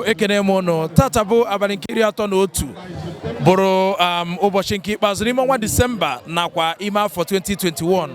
ekene m ụnụ tata bụ abalị nke iri atọ na otu bụrụ um, ụbọchị nke ikpeazụ n'ime ọnwa disemba nakwa ime afọ 2021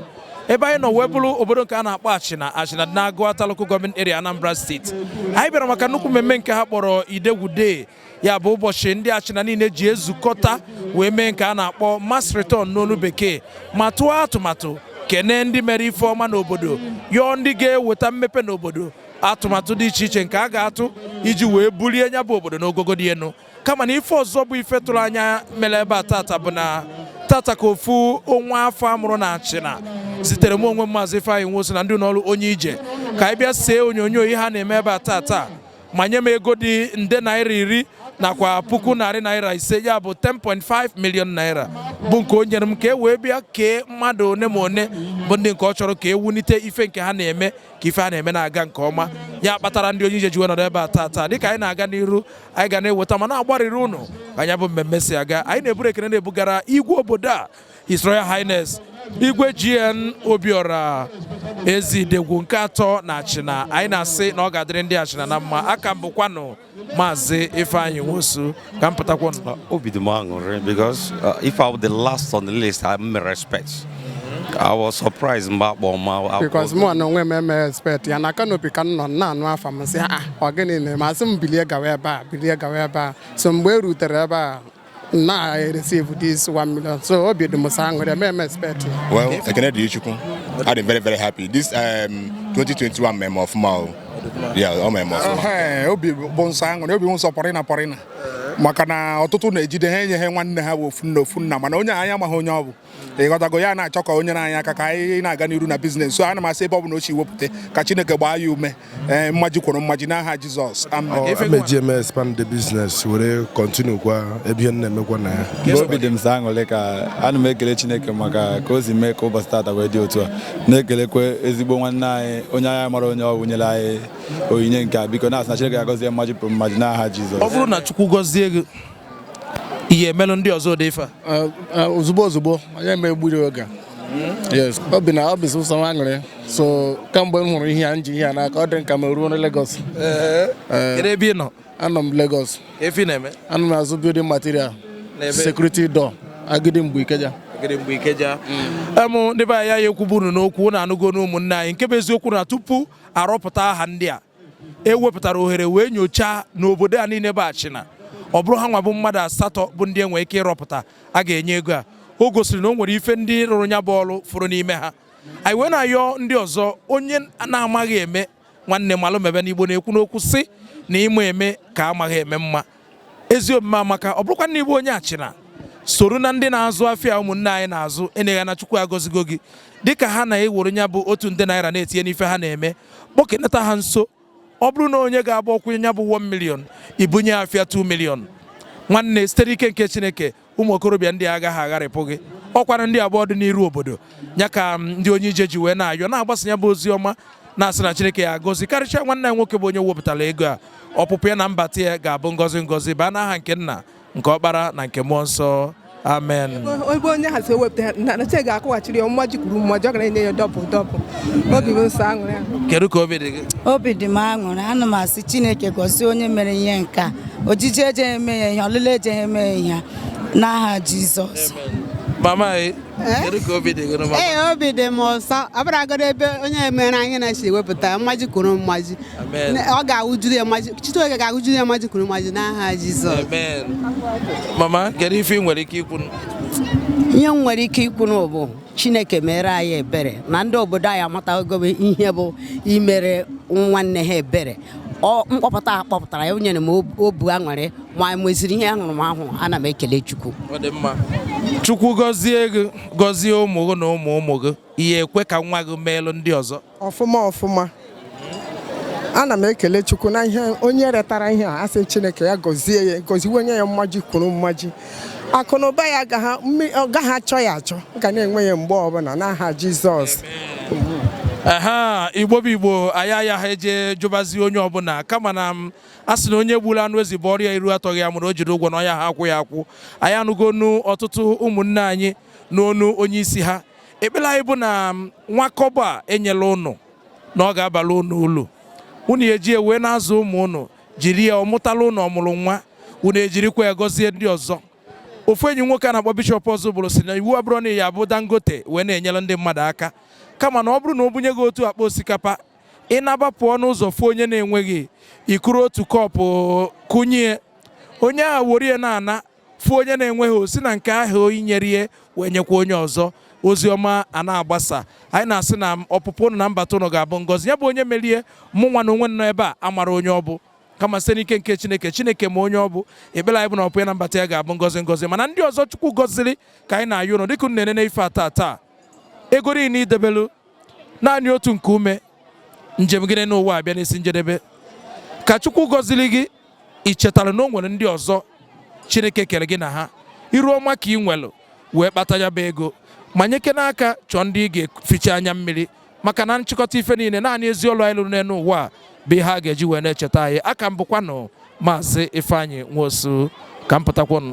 ebe anyị nọ wee bụrụ obodo nke a na-akpọ achịna achịna dị n'agụata local government area anambra state anyị bịara maka nnukwu mmemme nke ha kpọrọ idegwu day ya bụ ụbọchị ndị achịna niile ji ezukọta wee mee nke a na-akpọ mass return n'olu bekee ma tụọ atụmatụ kene ndị mere ife ọma n'obodo yọọ ndị ga-eweta mmepe n'obodo atụmatụ dị iche iche nke a ga-atụ iji wee bulie nya bụ obodo n'ogogo dị elu kama na ife ọzọ bụ ife ịtụnanya mere ebe a tata bụ na tata ka ofu nwa afọ a mụrụ na achịna zitere m onwe m maazị Ifeanyi Nwosu na ndị ụlọọrụ onye ije ka anyị bịa see onyonyo ihe ha na-eme ebe a tata ma nye m ego dị nde naira iri nakwa puku narị naira ise ya bụ 10.5 million naira bụ nke o nyere m ka e wee bịa kee mmadụ one ma one bụ ndị nke ọ chọrọ ka e wulite ife nke ha na-eme ka ife a na-eme na-aga nke ọma ya kpatara ndị onye ije ji wee nọrọ ebe a tata dịka anyị na-aga n'iru anyị ga na-eweta ma na-agbarịrị ụnụ ka nya bụ mmemme si aga anyị na-eburu ekene na-ebugara igwe obodo a His Royal Highness igwe GN Obiora Eze Idegwu nke atọ na Achịna anyị na-asị na ọ ga-adịrị ndị Achịna na mma aka m bụkwanụ Maazị Ifeanyi Nwosu ka m pụtakwanụ. Obi dị m aṅụrị because uh, if I were the last on the list, emerọ m expect. I was surprised mgbe a kpọ m because mụ na onwe m emerọ expect ya na kanopi ka m nọ na-anụ afa m sị ah ọ gịnị na-eme a sị m bilie gawa ebe a bilie gawa ebe a so mgbe e rutere ebe a na receive this 1 million so obi dị m sọ aṅụrị emerọ m expect well ekene dịrị chukwu adị m very very happy this um, 2021 mere m ọfụma o yeah o mere m ọfụma Ehe, obi bụ m sọ aṅụrị obi bụ m sọ pọrịna pọrịna maka na ọtụtụ na-ejide ha enye ha nwanne ha bụ ofu nne ofu nna mana onye a anyị amaghị onye ọ bụ ịghọtago ya na-achọ ka o nyere anyị aka ka anyị na-aga n'iru na biznes so ana m asị ebe ọ bụla o si wepụta ka chineke gbaa ya ume ee mmaji kwuru mmaji n'aha jizọs m eji eme expand the business were continue kwa ebe ihe na-emekwa na ya obi dị m sọ aṅụrị ka ana m ekele chineke maka ka o si mee ka ụbọchị tata wee dị otu a na-ekelekwa ezigbo nwanne anyị onye anyị amarọ onye ọ wụ nyere anyị onyinye nke a biko na-asị na chineke ga-agọzi e mmaji kwuru mmaji n'aha jizọs ọ bụrụ na chukwu gọzie gị i ya-emelụ ndị ọzọ ụdị ife a ozugbo ozugbo onye ma egburu oge yes obi na obi sụsọ m aṅụrị so kamgbe m hụrụ ihe a m ji ihe a n'aka ọ dị m ka m ruo na Lagos kedu ebe ị nọ anọ m Lagos ife ị na-eme anọ m azụ building material security door agidingbi ikeja ikeja em ndị be anyị ya ekwuburu n'okwu na anụgo n'ụmụnne anyị nke bụ eziokwu na tupu a rọpụta aha ndị a e wepụtara ohere wee nyochaa n'obodo a niile bụ achina ọ bụrụ ha nwa bụ mmadụ asatọ bụ ndị enwe ike ịrọpụta a ga-enye ego a o gosiri na o nwere ife ndị rụrụ nya bụ ọrụ fụrụ n'ime ha anyị wee na-ayọ ndị ọzọ onye na-amaghị eme nwanne malụ mebe na igbo na-ekwu n'okwu sị na ịma eme ka amaghị eme mma ezi omume amaka ọ bụrụkwa na ị bụ onye achina soro na ndị na-azụ afịa ụmụnne anyị na-azụ enyeghị na chukwu agọzigo gị dịka ha na-ewere nya bụ otu nde naira na-etinye n'ife ha na-eme kpọkenata ha nso ọ bụrụ na onye ga-agba ọkwụ nya bụ 1 million i bunye afịa 2 million nwanne site n'ike nke chineke ụmụ okorobịa ndị agaghị agharịpụ gị ọkwanụ ndị a bụ ọdịniru obodo ya ka um, ndị onye ije ji wee na-ayọ na-agbasa ya bụ ozi ọma na-asị na Chineke ya gọzikarịchaa nwanne ya nwoke bụ onye wepụtara ego a ọpụpụ ya na mbata ya ga-abụ ngọzi ngọzi baa n'aha nke nna nke ọkpara na nke mmụọ nsọ amen ebe onye a si ewepụta na Chineke ga-akwụghachiri ya mmaji kwuru mmaji ọ ga na-enye ya double double obi bụ m sọ aṅụrị kedu ka obi dị gị obi dị m aṅụrị ana m asị chineke gọzie onye mere ihe nke a ojije eje eme ya ihe ọlịla eje eme ya ihe n'aha Jizọs mama kedu ka obi dị gị obi dị m ụsọ ọ bụrụgodo ebe onye mere anyị na-esi ewepụta mmaji kwuru mmaji ọ ga-awụjuru ya mmaji Chineke ga-awụjuru ya mmaji kwuru mmaji n'aha Jizọs mama kedu ife ị nwere ike ikwu ihe m nwere ike ikwu bụ chineke meere anyị ebere na ndị obodo anyị amatago ihe bụ imere nwanne ha ebere mkpọpụta a kpọpụtara ya o nyere m obu aṅụrị ma nweziri ihe ahụrụ m ahụ ana m ekele Chukwu Chukwu gọzie gị gọzie ụmụ gị na ụmụ ụmụ gị ihe ekwe ka nwa gị meelụ ndị ọzọ ọfụma ọfụma ana m ekele Chukwu na ihe onye retara ihe a asị Chineke ya gọzie ya gọziwe nye ya mmaji kwuru mmaji akụ na ụba ya ọ gaghị achọ ya achọ ga na-enwe ya mgbe ọbụla n'aha Jizọs aha igbo bụ igbo anyị ayaha eje jụbazi onye ọbụla kama na a sị na onye gburu anụ ezi bụ ọrịa iru atọghị ya mụrụ o jiri ụgwọ na ọ yaha akwụ ya akwụ anyị anụgo ọnụ ọtụtụ ụmụnne anyị n'ọnụ onye isi ha ekpere anyị bụ na nwa kọbọ a e nyelu ụnụ na ọ ga-abala ụnụ ulu unu eji wee na-azụ ụmụ ụnụ jiri ya ọ mụtala ụnụ ọmụrụ nwa unu ejirikwa ya gọzie ndị ọzọ ofu enyi nwoke a na-akpọ bishọp ọzụbụlụ sị na iwu abụrọ na ya abụ dangote wee na-enyere ndị mmadụ aka kama na ọ bụrụ na o bunye gị otu akpa osikapa ị naba pụọ n'ụzọ fụ onye na-enweghị i kuru otu kọpụ kunye onye ahụ were ya na-ana fụ onye na-enweghị o si na nke ahụ i nyere ya wee nyekwa onye ọzọ ozi ọma a na-agbasa anyị na-asị na ọpụpụ ụnụ na mbata ụnụ ga-abụ ngọzi ya bụ onye mere ya mụ nwa na onwe m nọ ebe a amarọ onye ọ bụ kama site n'ike nke chineke chineke ma onye ọ bụ ekpere anyị bụ na ọpụpụ ya na mbata ya ga-abụ ngọzi ngọzi mana ndị ọzọ chukwu gọziri ka anyị na-ayọ ụnụ dịka unu na-enene ife a taa taa ego niile i debelu naanị otu nke ume njem gị n'enu ụwa abịa n'isi njedebe ka chukwu gọziri gị ị chetara na o nwere ndị ọzọ chineke kere gị na ha iru ọma ka ị nwelụ wee kpata ya bụ ego ma nyekene aka chọọ ndị ị ga-eficha anya mmiri maka na nchịkọta ife niile naanị ezi ọlụ anyị lụrụ n'elu ụwa a bụ ihe a ga-eji wee na-echeta anyị a ka m bụkwanụ Maazị Ifeanyi Nwosu ka m pụtakwonụ